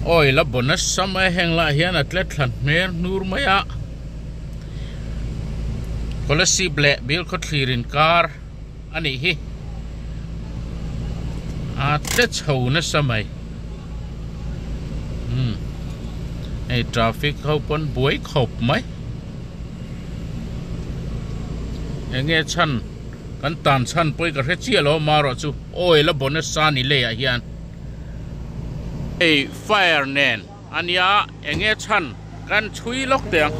Awi la bonus sam e, heng lah hian a tle thlan hmel hnur mai a, Scholarship leh Bial khawthlir inkar. Anih hi. Aa tle chho nasa mai. Umm. Hei traffic ho pawn buai khawp mai. Enge chhan kan tan chhan pawh hi ka hre chiah lo a mah erawh chu oil a bawna sa ni lei ah hian hei fire nen. Ania enge chhan kan chhui lawk teh ang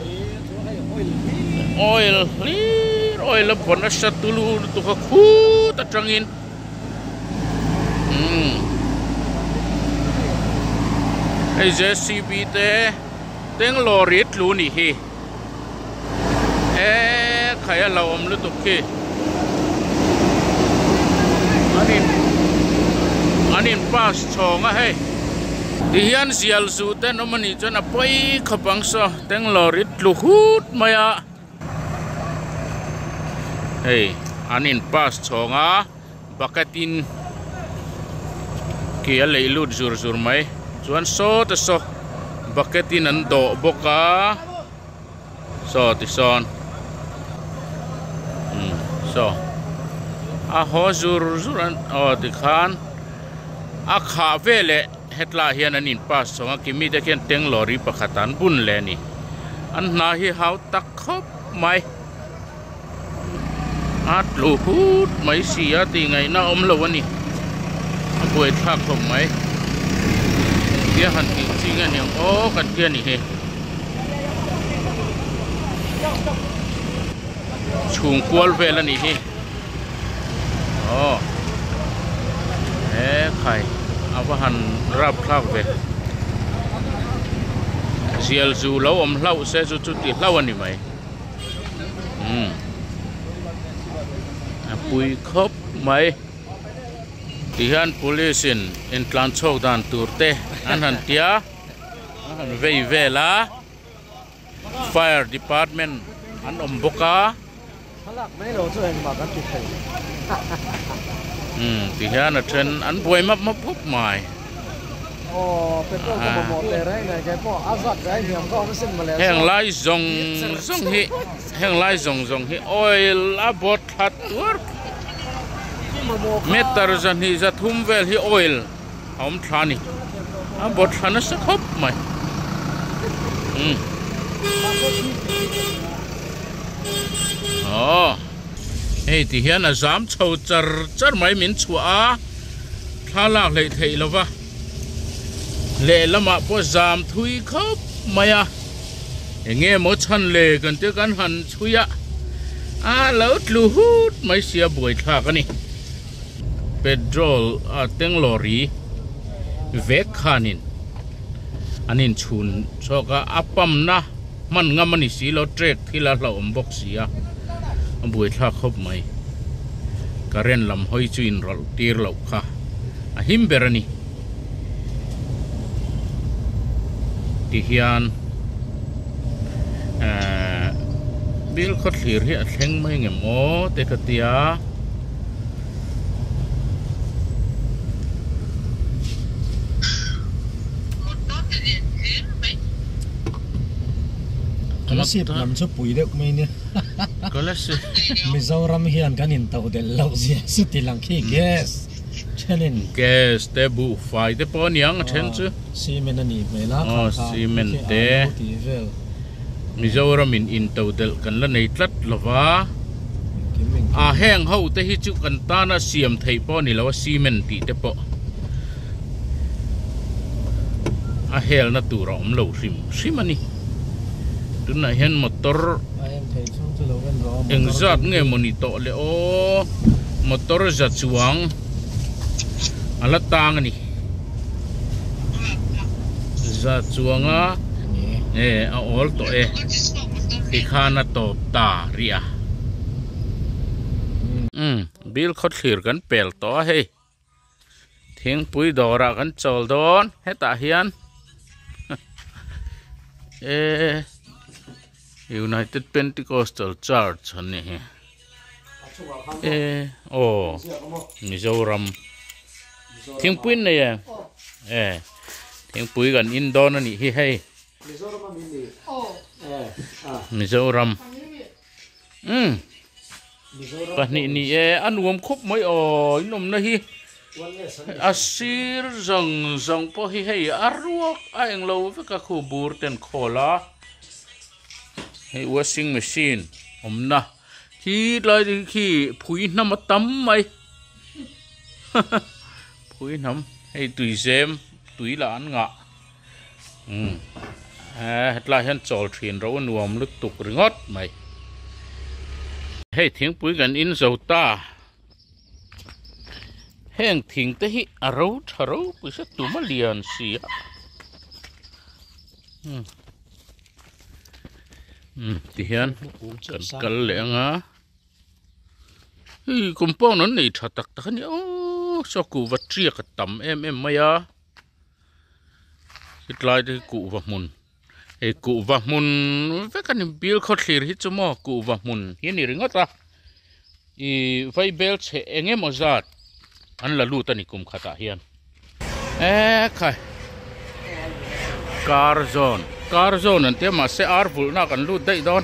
oil hlir oil a bawn nasa tu lu lutuk a khut atangin umm hei jcb te bangalore tlu ni hi. e khai a lo awm lutuk khi an in an in pass chhawng a hei. Ti hian zial zu te an awm a nih chuan a pawi khawp ang saw Tanglore i tlu hut mai a, hei an in pass chhawng a. Bucket in khi a leih lut zur zur mai chuan saw te saw bucket in an dawh bawk a saw ti sawn umm saw a haw zur zur an aw ti khan a khah veleh hetlai hian an in pass chawng a kimi te khian teng lorry pakhat ah an bun leh a ni an hna hi hau tak khawp mai. a tlu phut mai si a tih ngaihna a awm lo a ni a buai thlak khawp mai tia han tih chi nge niang aw kan tia ni hi chhung kual vel a nih hi aw he khai a va han rap thlak ve zial zu lo awm hlauh se chu chu ti hlauh a ni mai. umm a pui khawp mai ti hian police in in tlan chhawk dan tur te an han tia an han vei vel a fire department an awm bawk a umm ti hian a then an buai map map khawp mai. heng lai zawng zawng hi heng lai zawng zawng hi oil a bawt thlat tuar meter zahnih zathum vel hi oil a awm thla a ni a bawt thla nasa khawp mai umm aw hei ti hian a zam chho char char mai min chhuah a. Thla lak hleih theih lo va, lehlamah pawh zam thui khawp mai a, enge maw chhan le kan tih kan han chhui a, a lo tlu hut mai sia buai thlak a ni. Petrol a teng lorry vek khanin an inchhun chhuak a, a pump na. Hman ngam a ni si lo, track thil a hlauhawm bawk si a, a buaithlak hawp mai. Current lam hawi chu inrawlh tir loh kha a him ber a ni. Ti hian bill khawthlir hi a thleng mai nge maw te ka ti a. Kalasi lam chu pui deuh mai nia Kalasi Mizoram hian kan in to del lo zia suti lang khi gas thenin gas te buh fai te pawh aniang a then chu cement a nih hmel a khan khan cement te Mizoram in in to del kan la nei tlat lova a heng ho te hi chu kan tana siam thei pawh ani lo a cement tih te pawh a helna tur a awm lo hrim hrim a ni. Tunah hian motor engzat nge maw ni tawh le aw, motor za chuang a la tang a ni. Za chuanga nge a awl tawh e tikhan a tawp ta ri a. Umm, bil khawthlir kan pel tawh a hei. Thingpui dawrah kan chawl dawn hetah hian ehh United Pentecostal Church a nih hi ehh aww Mizoram thingpui an nei em ehh thingpui kan in dawn a nih hi hei Mizoram. Umm. Pahnih ni e, a nuam khawp mai aw, in awmna hi a sir zawng zawng pawh hi hei a ruak a englo vek a khu bur ten khawl a, hei washing machine awmna hi tlai ding hi khi phui hnam a tam mai haha phui hnam hei tuizem tui lah an ngah. Eeh hetlai hian chawl thin ro nuam lutuk ringawt mai. Hei thingpui kan in zo ta. Heng thing te hi a ro tha ro pui se tuma lian si a. Umm ti hian kan kal leh ang a. Hei compound an nei tha tak tak a nia. Aww saw kuh vattiak a tam em em mai a. Hetlai te hi kuhva hmun hei kuhva hmun vek a ni bil khawthlir hi chu maw kuhva hmun hi a ni ringawt a i vaibel chhe eng emaw zat an la lut a ni kum khatah hian eh khai car zone car zone an tia mahse ar vulhna ah kan lut daih dawn.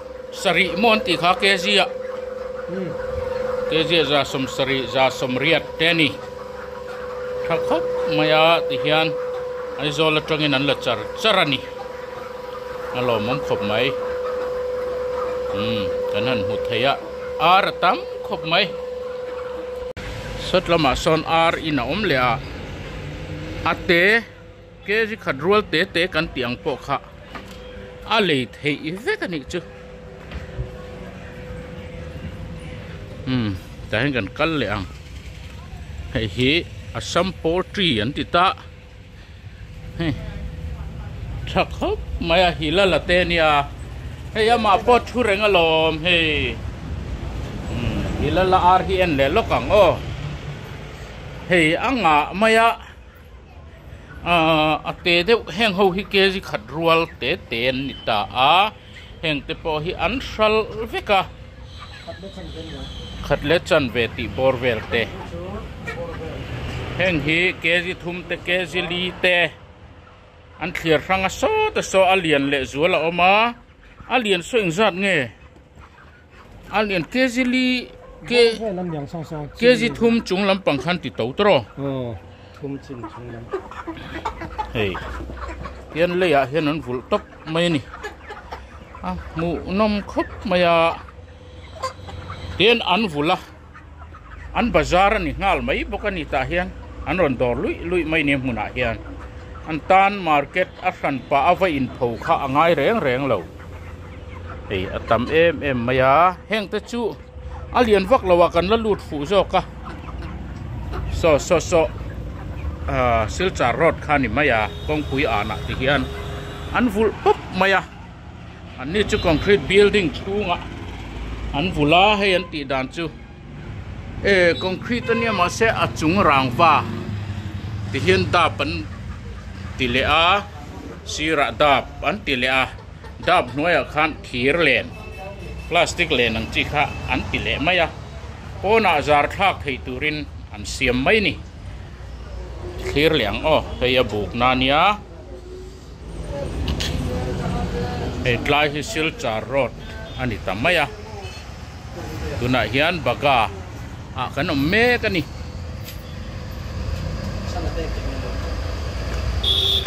Sarih maw an tih kha KZ a, KZ za sawm sarih za sawm riat te a ni. Tha khawp mai a ti hian Aizawl atangin an la char char a ni. A lawmawm khawp mai. Kan han hmu thei a, ar a tam khawp mai. Sawt lamah sawn ar in a awm leh a, a te. Kg khat rual te te kan tih ang pawh kha a lei theih vek a nih chu. Umm tah hian kan kal leh ang. Hei hi Assam poultry an ti ta. Hei tha khawp mai a hila la te nia. Hei amah pawh thu reng alawm hei. Umm hila la ar hi en leh lawk ang aw. Hei a ngah mai a. Ahh a tê deuh heng ho hi kzi khat rual te te an ni ta a, heng te pawh hi an hral vek a, khat leh chan ve tih bawr vel te, heng hi kzi thum te kzi li te an thlir hrang a sawt a saw a, a lian leh zual a awm a, a lian saw eng zat nge? An en kg li kg thum chung lampang khan ti to tawrh aw thum chin chung lam hei hian lei ah hian an vulh tawp mai a ni a hmuh nawm khawp mai a tian an vul a. an bazar a ni nghal mai bawk a ni tah hian an rawn dawr luih luih mai nia hmunah hian an tan market a hran pah a va inpho kha a ngai reng reng lo hei a tam em em mai a heng te chu a lian vak lo a kan la lut fuh zawk a saw saw saw silchar road kha a ni mai a kawngpui anah ti hian an vulh pup mai a. An ni chu concrete building chhunga an vul a, hei an tih dan chu eh concrete a nia mahse a chung rangva ti hian dap an ti leh a, sirah dap an ti leh a, dap hnuaiah khan thir len plastic len ang chi kha an ti leh mai a, pawnah zar thlak thei turin an siam mai ni. Thlir leh ang aw, hei a buk na nia. Hei tlai hi Silchar road a ni ta mai a, tunah hian Baga ah kan awm mek a ni.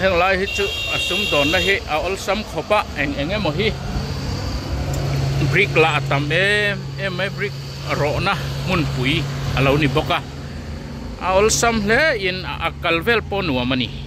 Heng lai hi chu a sum dawnna hi a awlsam khawp a, eng eng emaw hi brick lah a tam em em mai, brick rawhna hmunpui a lo ni bawk a, a awlsam hle in a kal vel pawh nuam a ni.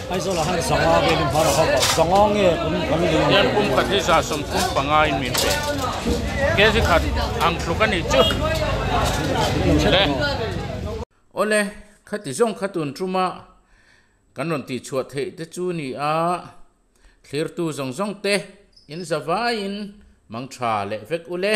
Aizawlah hian Zanga vel in hmara ho pawh Zanga nge kum kan din ang? Hian kum khat hi za sawm thum panga in min pe. Kezi khat ang tluk a nih chu. Le. Aw le, khati zawng kha tun tuma kan rawn tih chhuah theih te chu ni a, thlirtu zawng zawng te in za vai in mang tha leh vek u le.